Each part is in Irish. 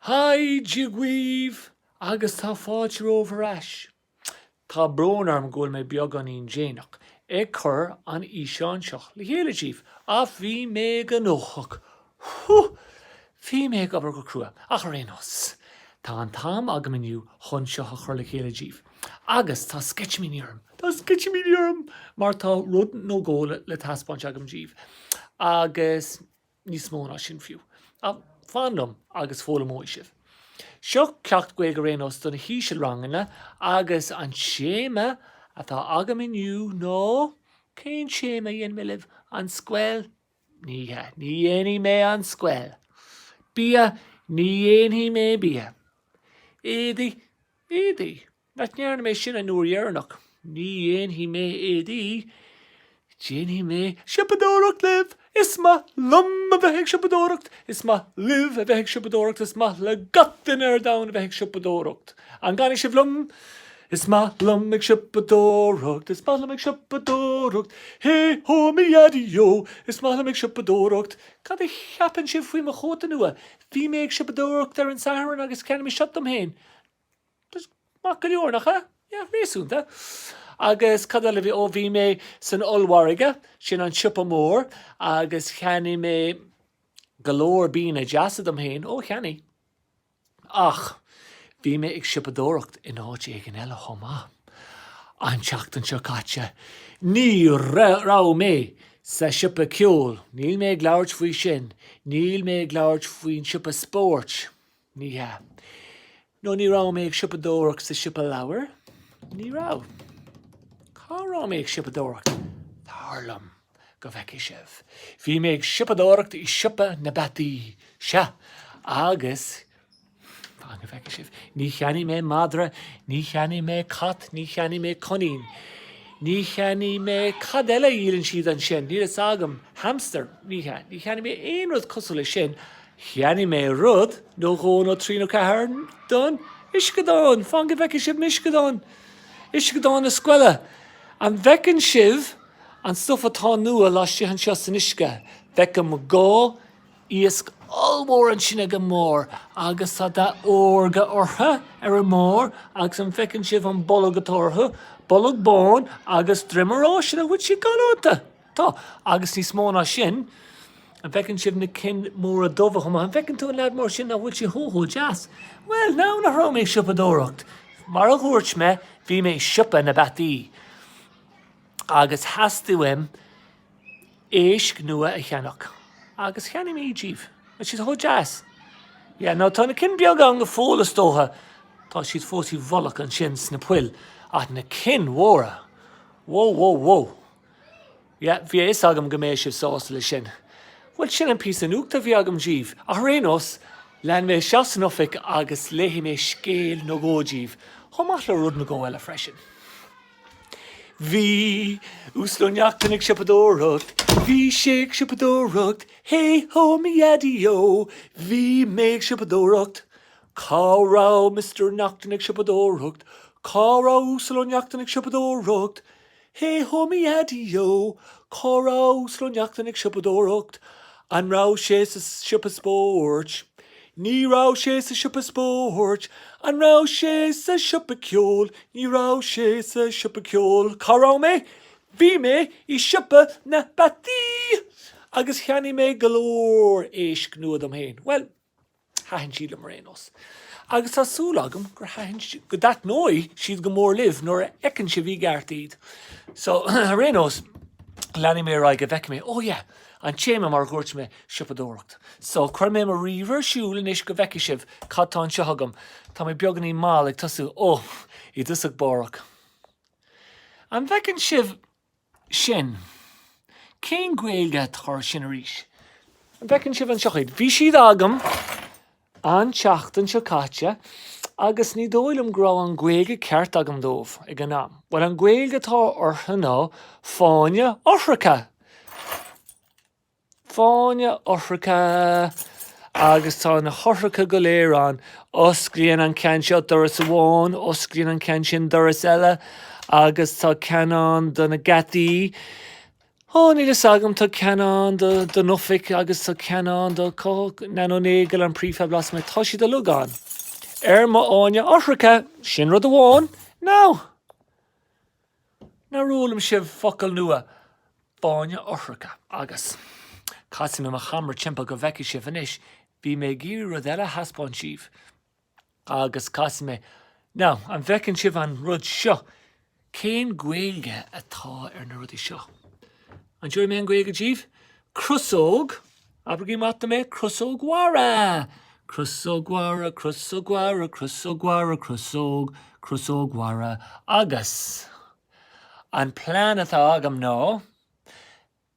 Haigh Dia dhaoibh agus tá fáilte romhaibh ar ais. Tá brón orm go bhfuil mé beagáinín déanach ag cur an fhíseáin seo le chéile díbh ach bhí mé gnóthach! Whew! Bhí mé ag obair go crua ach ar aon nós tá an t-am agam inniu chun seo a chur le chéile díbh agus tá sceitimíní orm, tá sceitimíní orm mar tá rud nó dhó le taispeáint agam díbh agus. níos mó ná sin fiú. Ach fan liom agus foghlaimeoidh sibh. Seo ceacht Gaeilge ar aon nós do na híseal-ranganna agus an téama atá agam inniu ná Cén téama a dhéanfaidh mé libh? An scoil? Ní hea, ní dhéanfaidh mé an scoil. Bia? Ní dhéanfaidh mé bia. Éadaí? Éadaí? nach ndearna mé sin an uair dheireanach, ní dhéanfaidh mé éadaí, déanfaidh mé siopadóireacht libh! Is maith liom a bheith ag siopadóireacht, is maith libh a bheith ag siopadóireacht, is maith le gach duine ar domhan a bheith ag siopadóireacht. An gcanfaidh sibh liom? Is maith liom ag siopadóireacht, is maith liom ag siopadóireacht, hé hó a mi dheaidí yó, is maith liom ag siopadóireacht. Cad a cheapann sibh faoi mo chóta nua? Bhí mé ag siopadóireacht ar an Satharn agus cheannaigh mé seo dom féin. Maith go leor, nach ea? Yeah, réasúnta. Agus cad eile a bhí, ó bhí mé san ollmhargadh, sin an siopa mór agus cheannaigh mé go leor bianna deasa dom féin, ó cheannaigh. Ach bhí mé ag siopadóireacht in áit éigin eile chomh maith. An tseachtain seo caite, ní raibh mé sa siopa ceoil, níl mé ag labhairt faoi sin, níl mé ag labhairt faoin siopa spóirt, Ní hea. No, ní raibh mé ag siopadóireacht sa siopa leabhar. Ní raibh. Cá raibh mé ag siopadóireacht? Tar liom go bhfeicfidh sibh. Bhí mé ag siopadóireacht i siopa na bpeataí. Sea. Agus, fan go bhfeicfidh sibh, ní cheannaigh mé madra, ní cheannaigh mé cat, ní cheannaigh mé coinín. Ní cheannaigh mé, cad eile a dhíolann siad ansin? Níl fhios agam. Hamster? Ní hea. Ní cheannaigh mé aon rud cosúil leis sin. Cheannaigh mé rud nó dhó nó trí nó ceathair don uisceadán. Fan go bhfeiceann sibh an uisceadán, uisceadán na scoile, an bhfeiceann sibh an stuif atá nua laistigh anseo san uisce? Feicim dhá iasc ollmhór ansin ag an mbarr agus tá dath órga orthu ar an mbarr agus an bhfeiceann sibh an bolg atá orthu? Bolg bán agus droim órga nach bhfuil siad galánta. Tá, agus níos mó ná sin, an bhfeiceann sibh na cinn mhóra dubha chomh maith? An bhfeiceann tú an lead mór sin nach bhfuil sé chomh chomh deas? Bhuel, now nach raibh mé ag siopadóireacht! Mar a dhúirt mé, bhí mé i siopa na bpeataí. Agus theastaigh uaim éisc nua a cheannach. Agus cheannaigh mé iad díbh. Tá siad chomh deas! Yeah, no, tá na cinn beaga ann go fóill is dócha. Tá siad fós i bhfolach ansin sna poill. Ach na cinn mhóra! Whoa, whoa, whoa! Yeah, bhí a fhios agam go mbeadh sibh sásta leis sin. Bhuel, sin an píosa nuachta a bhí agam díbh, ach ar aon nós, lean mé isteach san oifig agus léifidh mé scéal nó dhó díbh, chomh maith le rud nó dhó eile freisin. Bhí Uasal Ó Neachtain ag siopadóireacht, bhí sé ag siopadóireacht, Hé hó, mo dhaidí ó, bhí mé ag siopadóireacht. Cá raibh Mister Neachtain ag siopadóireacht? Cá raibh Uasal Ó Neachtain ag siopadóireacht? Hé hó mo dhaidí ó! Cá raibh Uasal Ó Neachtain ag siopadóireacht? An raibh sé sa siopa spóirt? Ní raibh sé sa siopa spóirt. An raibh sé sa siopa ceoil? Ní raibh sé sa siopa ceoil. Cá raibh mé? Bhí mé i siopa na bpeataí! Agus cheannaigh mé go leor éisc nua dom féin. Bhuel, Thaitin siad liom ar aon nós. Agus tá súil agam gur thaitin, go dtaitneoidh siad go mór libh nuair a fheiceann sibh i gceart iad. So, ar aon nós, leanfaidh mé ar aghaidh go bhfeicfidh mé, oh yeah, an téama mar a dhúirt mé, siopadóireacht. So, cuirfidh mé mo ríomhaire ar siúl anois go bhfeicfidh sibh cad tá anseo agam. Tá mé beagáinín mall ag tosú, oh, i dtosach bárach. An bhfeiceann sibh sin. Cén Ghaeilge atá ar sin arís? An bhfeiceann sibh anseo iad? Bhí siad agam an tseachtain seo caite agus ní dóigh liom go raibh an Ghaeilge ceart agam dóibh ag an am. Bhuel, an Ghaeilge atá orthu ná fáinne eochracha! Fáinne eochracha. Agus tá na heochracha go léir ann. Osclaíonn an ceann seo doras amháin, osclaíonn an ceann sin doras eile agus tá ceann ann do na geataí. Ó, níl fhios agam, tá ceann ann do don oifig agus tá ceann ann do cá Nan Ó Néill an prefab lasmuigh. Tá siad uilig ann. Ar mo fháinne eochracha, sin rud amháin. Now. Nár fhoghlaim sibh focal nua? Fáinne eochracha. Agus. Casfaidh mé mo cheamara timpeall go bhfeicfidh sibh anois. Bhí mé ag iarraidh rud eile a thaispeáint díbh. Agus casfaidh mé. Now, an bhfeiceann sibh an rud seo? Cén Ghaeilge atá ar na rudaí seo? An dtabharfaidh mé an Ghaeilge díbh? Crosóg. Abraigí amach dom é, crosóg mhara! Crosóg mhara, crosóg mhara, crosóg mhara, crosóg, crosóg mhara. Agus an plean atá agam ná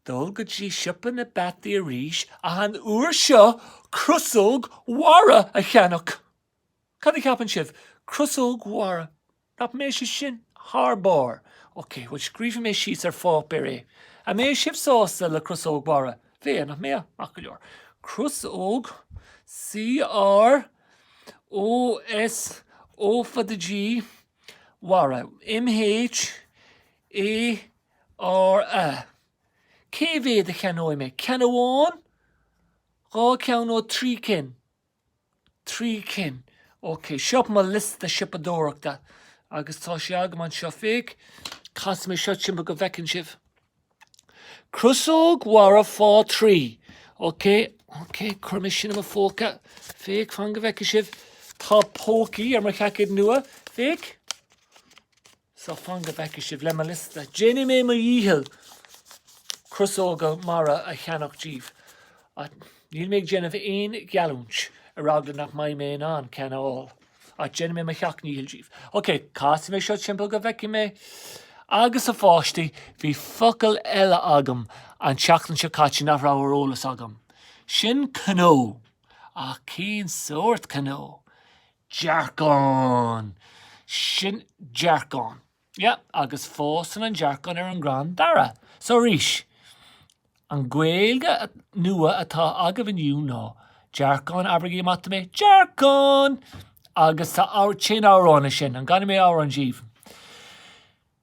dul go dtí siopa na bpeataí arís ach an uair seo crosóg mhara a cheannach! Cad a cheapann sibh? Crosóg mhara! Nach mbeadh sé sin thar barr! Ok, bhuel scríobfaidh mé síos ar pháipéar é. An mbeadh sibh sásta le Crosóg Mhara? Bheadh, nach mbeadh? Maith go leor. Crosóg, C-r-o-s-o fada-g, mhara, m-h-a-r-a. Cé mhéad a cheannóidh mé? Ceann amháin? Dhá cheann nó trí cinn? Trí cinn. Ok, seo mo liosta siopadóireachta agus tá sé agam anseo. Féach, casfaidh mé seo timpeall go bhfeiceann sibh. Crosóg mhara fá thrí. Ok, ok, cuirfidh mé sin i mo phóca. Féach, fan go bhfeice sibh. Tá pócaí ar mo sheaicéad nua. Féach. So fan go bhfeicfidh sibh le mo liosta. Déanfaidh mé mo dhícheall crosóga mara a cheannach díbh. Ach níl mé ag déanamh aon gheallúint, ar eagla nach mbeidh mé in ann ceann a fháil. Ach déanfaidh mé mo sheacht ndícheall díbh. Ok, casfaidh mé seo timpeall go bhfeicfidh mé. Agus a pháistí, bhí focal eile agam an tseachtain seo caite nach raibh ar eolas agam. Sin cnó. Ach cén sórt cnó? dearcán! Sin dearcán. Yeah, agus fásann an dearcán ar an gcrann dara. So arís, an Gaeilge nua atá agam inniu ná dearcán, abraigí amach dom é, dearcán! Agus tá, téann amhrán leis sin, an gcanfaidh mé amhrán díbh?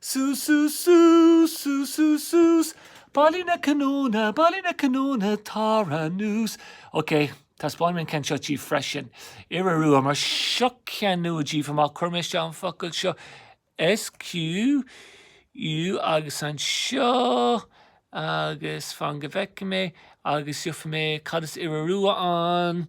Suas, suas, suas, suas, suas, suas, bailigh na cnónna, bailigh na cnónna, tar anuas. Ok, taispeánfaidh mé an ceann seo díbh freisin. Iora rua, mar seo ceann nua díbh. Má chuirim isteach an focal seo SQ, U agus anseo, agus fan go bhfeice mé, agus gheobhaidh mé cad is iora rua ann.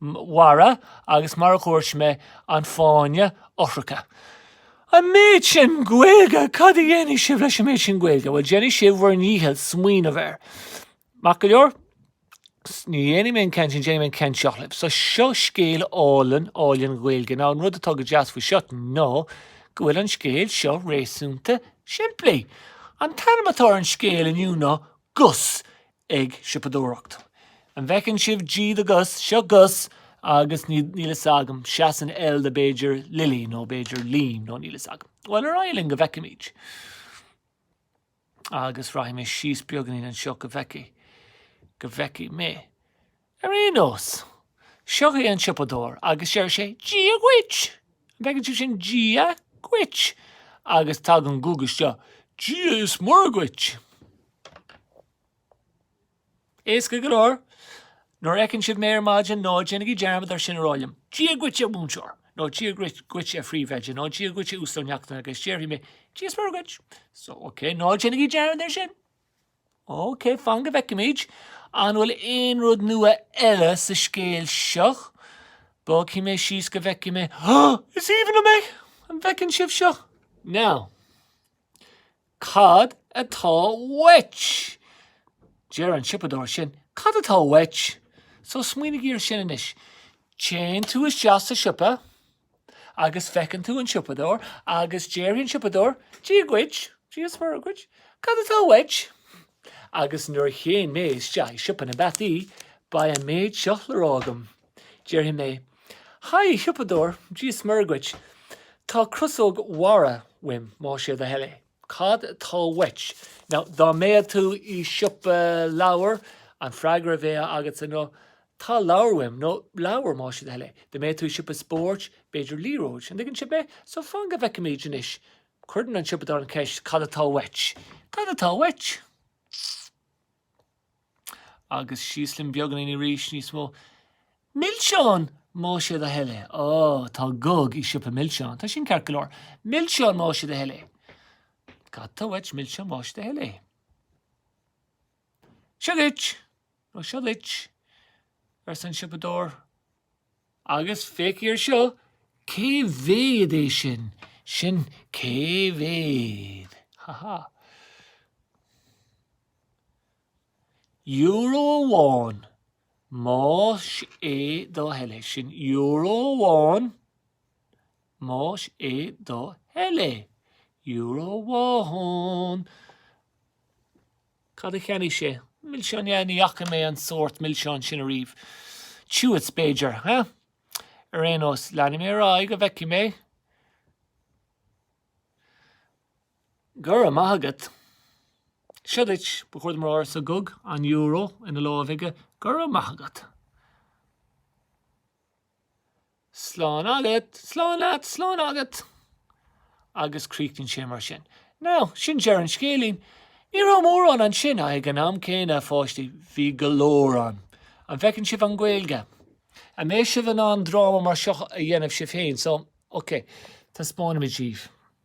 Mhara agus mar a dhúirt mé, an fáinne eochracha. An méid sin Gaeilge! Cad a dhéanfaidh sibh leis an méid sin Gaeilge? Bhuel, déanfaidh sibh bhur ndícheall smaoineamh air. Maith go leor? Ní dhéanfaidh mé an ceann sin, déanfaidh mé an ceann seo libh. So, seo scéal álainn, álainn Gaeilge. Now, an rud atá go deas faoi seo ná go bhfuil an scéal seo réasúnta simplí. An t-ainm atá ar an scéal inniu ná Gus ag siopadóireacht. An bhfeiceann sibh G do Gus? Seo Gus agus níl, níl 'fhios agam, seasann L do b'fhéidir Lily nó b'fhéidir Liam nó níl 'fhios agam. Bhuel, ar aghaidh linn go bhfeicfimid. Agus rachaidh mé síos beagainín anseo go bhfeicfidh, go bhfeicfidh mé. Ar aon nós, seo é an siopadóir agus deir sé Dia dhuit! An bhfeiceann sibh sin? Dia dhuit! Agus tagann guth isteach, Dia is Muire dhuit! Éasca go leor, nuair a fheiceann sibh mé ar maidin, ná déanaigí dearmad air sin a rá liom, Dia dhuit a mhúinteoir! Nó Dia dhuit a phríomhoide! Nó Dia dhuit a Uasail Neachtain! Agus déarfaidh mé, Dia is Muire dhuit! So, okay, ná déanaigí dearmad air sin! OK, fan go bhfeicimid. An bhfuil aon rud nua eile sa scéal seo? Bogfaidh mé síos go bhfeicfidh mé. Is aoibhinn liom é! An bhfeiceann sibh seo? Now, cad atá uait? Deir an siopadóir sin, Cad atá uait? So smaoinigí ar sin anois. Téann tú isteach sa siopa. agus feiceann tú an siopadóir agus déarfaidh an siopadóir Dia dhuit, Dia is Muire dhuit, cad atá uait? Agus nuair a théann mé isteach i siopa na bpeataí, beidh an méid seo le rá agam. Déarfaidh mé, Haigh, a shiopadóir, Dia is Muire dhuit, tá crosóg mhara uaim, más é do thoil é. Cad tá uait? Now, dá mbeadh tú i siopa leabhar, an freagra a bheadh agatsa ná, Tá leabhar uaim, nó leabhar, más é do thoil é. Dá mbeadh tú i siopa spóirt, b'fhéidir liathróid. An dtuigeann sibh mé? So, fan go bhfeicfimid anois. Cuireann an siopadóir an cheist, Cad atá uait? Cad atá uait? Agus síos linn beagainín arís, níos mó. Milseán! Más é do thoil é. Ó, tá Gog i siopa milseán. Tá sin ceart go leor. Milseán más é do thoil é. Cad tá uait? Milseán más é do thoil é? Seo duit! Nó seo dhuit! arsa an siopadóir. Agus féachaigí air seo, cé mhéad é sin? Sin cé mhéad. Ha ha. Euro amháin. Más é do thoil é. Sin euro amháin. Más é do thoil é. Euro amháin. Cad a cheannaigh sé? Milseán, ní fhaca mé an sórt milseán sin ariamh. Chewits, b'fhéidir, ha? Ar aon nós, leanfaidh mé ar aghaidh go bhfeicfidh mé. Go raibh maith agat. Seo duit, ba chóir dom a rá, arsa Gug, an euro ina láimh aige. Go raibh maith agat. Slán agat! Slán leat! Slán agat! agus críochnaíonn sé mar sin. Now, sin deireadh an scéilín. Ní raibh mórán ansin ach ag an am céanna a pháistí, bhí go leor ann. An bhfeiceann sibh an Ghaeilge? An mbeidh sibh in ann dráma mar seo a dhéanamh sibh féin, so, okay, taispeánfaimid díbh.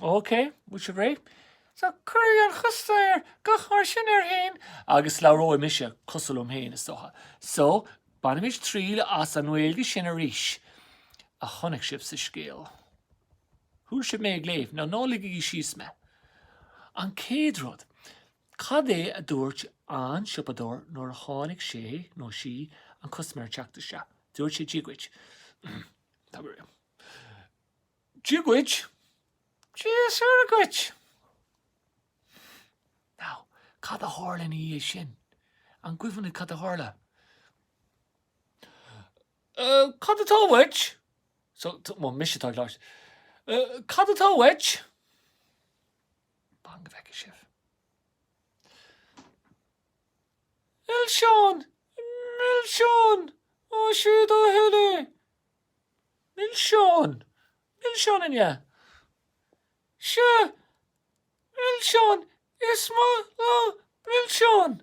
OK, bhfuil sibh réidh? So, cuirfidh an custaiméir guth mar sin air féin agus labhróidh mise cosúil liom féin, is dócha. So, bainimid triail as an nGaeilge sin arís a chonaic sibh sa scéal. Chuala sibh mé ag léamh, now ná ligigí síos mé. An chéad rud, cad é a dúirt an siopadóir nuair a tháinig sé, nó sí, an custaiméir ag teacht isteach? Dúirt sé Dia dhuit, Tá go raibh. Dia dhuit. Dia is Muire dhuit. Now, cad a tharla ina dhiaidh sin? An cuimhin libh cad a tharla? Uh, cad atá uait? So, mise atá leis. Uh, cad atá uait? Fan go bhfeice sibh. Milseáin! Milseáin! Ó siad ó thuile! Milseáin! Milseáin an ea? Sea, milseáin! Is maith liom milseáin!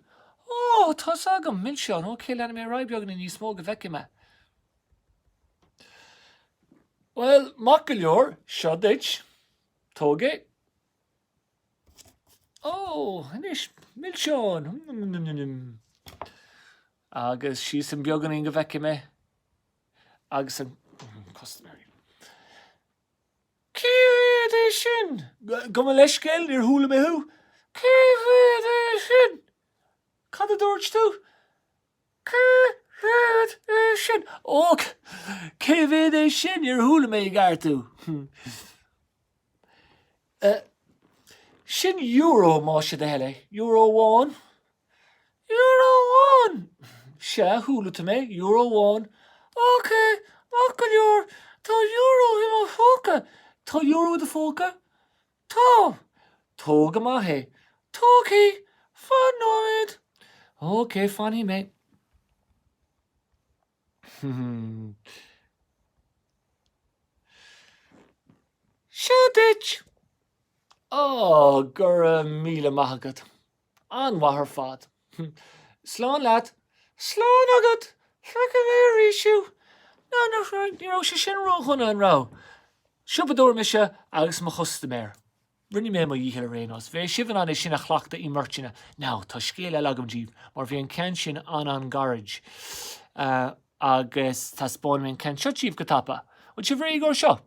Ó, tá's agam milseáin! OK, leanfaidh mé ar aghaidh beagáinín níos mó go bhfeicfidh mé. Bhuel, maith go leor, seo duit. Tóg é. Ó, anois, milseáin! Nim-nim-nim-nim-nim! Agus síos arís beagáinín go bhfeicfidh mé. agus an custaiméir. Cé mhéad é sin? Gabh mo leithscéal, níor chuala mé thú. Cé mhéad é sin? Cad a dúirt tú? Cé mhéad é sin? Ó, cé mhéad é sin? Níor chuala mé i gceart thú. Eh. Sin euro, más é do thoil é. Euro amháin? Euro amháin! Sea, chuala tú mé, euro amháin. Ok, maith go leor, tá euro i mo phóca. Tá euro i do phóca? Tá! Tóg amach é. Tógfaidh! Fan nóiméad! Ok, fanfaidh mé. Seo duit! Ó, go raibh míle maith agat. An-mhaith ar fad. Slán leat. Slán agat! Feicfidh mé arís thú. Now nach raibh, ní raibh sé sin ró-dhona, an raibh? Siopadóir mise agus mo chustaiméir. Rinne mé mo dhícheall ar aon nós. Bheadh sibh in ann é sin a chleachtadh i mbeirteanna. Now, tá scéal eile agam díbh, mar bhí an ceann sin an-an-ghairid, agus taispeánfaidh mé an ceann seo díbh go tapa. Bhfuil sibh réidh dó seo?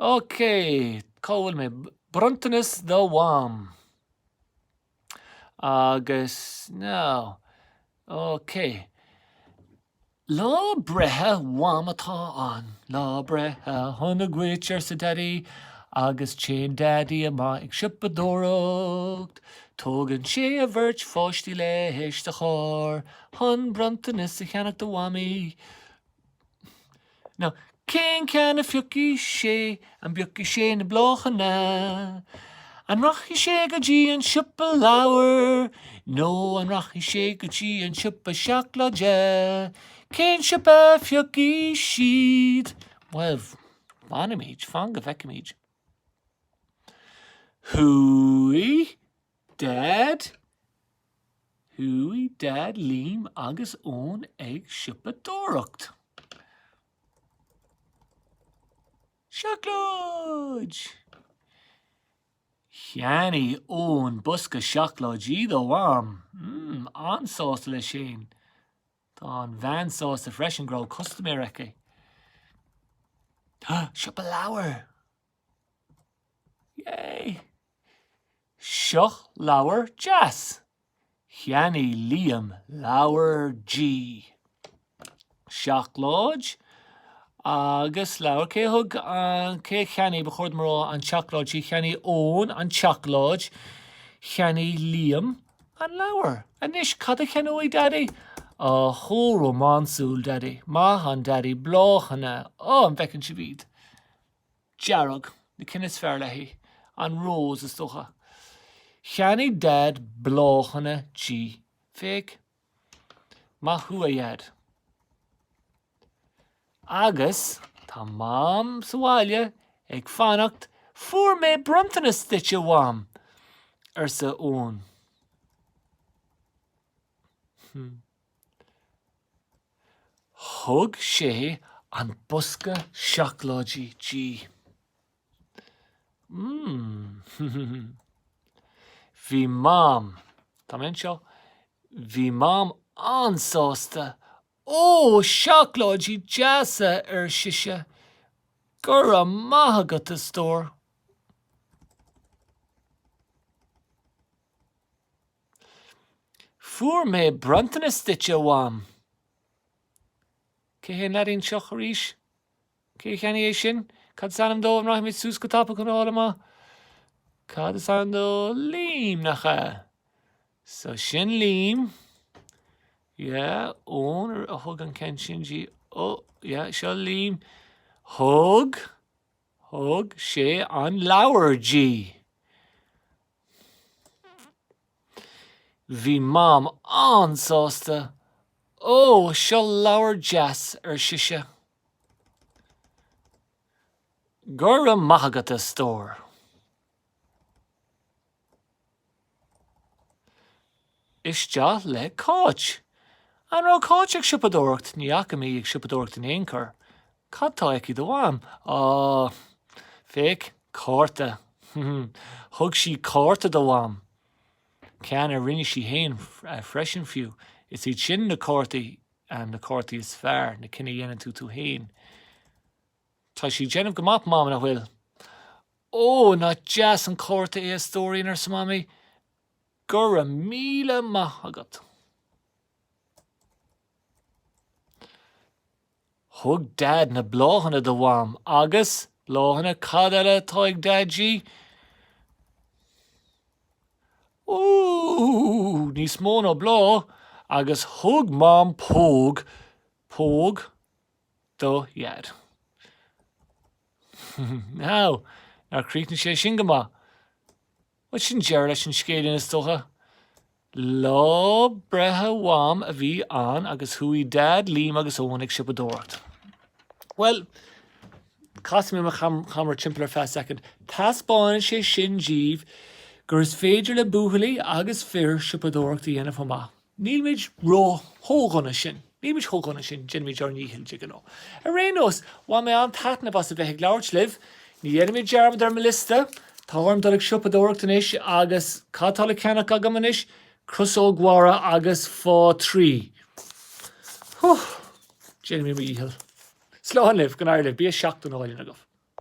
Okay, cá bhfuil mé? Bronntanas do Mham. Agus now, okay. Lá breithe Mham atá ann. Lá breithe sona dhuit arsa Daidí agus téann Daidí amach ag siopadóireacht. Tógann sé a bheirt pháistí leis sa charr chun bronntanas a cheannach do Mhamaí. Now, cén ceann a phiocfaidh sé? An bpiocfaidh sé na bláthanna? An rachaidh sé go dtí an siopa leabhar? Nó an rachaidh sé go dtí an siopa seacláide? Cén siopa a phiocfaidh siad? Bhuel, fanfaimid, fan go bhfeicimid. Chuaigh Daid Chuaigh Daid, Liam agus Eoin ag siopadóireacht. Seacláid! Cheannaigh Eoin bosca seacláidí dá mham. Mmm, an-sásta leis féin. Tá an bhean sásta freisin go raibh custaiméir aici. Siopa leabhar! Yay! Seo leabhar deas. Cheannaigh Liam leabhar di. Seacláid agus leabhar. Cé thug an, cé a cheannaigh, ba chóir dom a rá, an tseacláid di? Cheannaigh Eoin an tseacláid. Cheannaigh Liam an leabhar. Anois, cad a cheannóidh Daidí? Ó, chomh rómánsúil, Daidí. Maith an Daidí, bláthanna. Ó, an bhfeiceann sibh iad? dearg, na cinn is fearr léi, an rós, is dócha. Cheannaigh Daid bláthanna di. Féach, maith thú, a Dhaid. Agus tá Mam sa bhaile ag fanacht, Fuair mé bronntanas duitse, a Mham! arsa Eoin. Thug sé an bosca seacláidí di. Mmm. Bhí Mam, tá mé anseo, bhí Mam an-sásta. Ó, seacláidí deasa, ar sise. Go raibh maith agat, a stór. Fuair mé bronntanas duit a Mham! Cé hé an leaidín seo arís? Cé a cheannaigh é sin? Cad is ainm dó an rachaimid suas go tapa chun a fháil amach? Cad is ainm dó? Liam, nach ea? So sin Liam. Yeah, Eoin a thug an ceann sin di. Oh, yeah, seo Liam. Thug, thug sé an leabhar di. Bhí Mam an-sásta. Ó, seo leabhar deas, ar sise. Go raibh maith agat, a stór. Isteach le Cáit. An raibh Cáit ag siopadóireacht? Ní fhaca mé í ag siopadóireacht in aon chor. Cad tá aici do Mham? Á! Féach, cárta. Thug sí cárta do Mham. Ceann a rinne sí fhéin freisin fiú. Is iad sin na cártaí, na cártaí is fearr, na cinn a dhéanann tú tú fhéin. Tá sí ag déanamh go maith, Mam, nach bhfuil? Ó! Nach deas an cárta é a stóirín, arsa Mamaí. Go raibh míle maith agat. Thug Dad na bláthanna do Mham agus, bláthanna cad eile atá ag Dad di? Ooh! Níos mó ná bláth! Agus thug Mam póg, póg, do Dheaid. Now, nár chríochnaigh sé sin go maith? Bhuel, sin deireadh leis an scéilín is dócha. Lá breithe Mham a bhí ann agus chuaigh Dad, Liam agus Eoin ag siopadóireacht. Bhuel, casfaidh mé mo cheamara timpeall ar feadh soicind. Teaspáineann sé sin díbh gur is féidir le buachaillí agus fir siopadóireacht a dhéanamh chomh maith. Nílimid ró- chomh dona sin. Nílimid chomh dona sin, déanaimid ár ndícheall de ghnáth. Ar aon nós, bhain mé an-taitneamh as a bheith ag labhairt libh. Ní dhéanfaimid dearmad ar mo liosta. Tá orm dul ag siopadóireacht anois agus cad tá le ceannach agam anois? Crosóg mhara agus fá thrí. Huh! Déanfaidh mé mo dhícheall. Slán libh, go n-éirí libh, bia seachtanáin agaibh.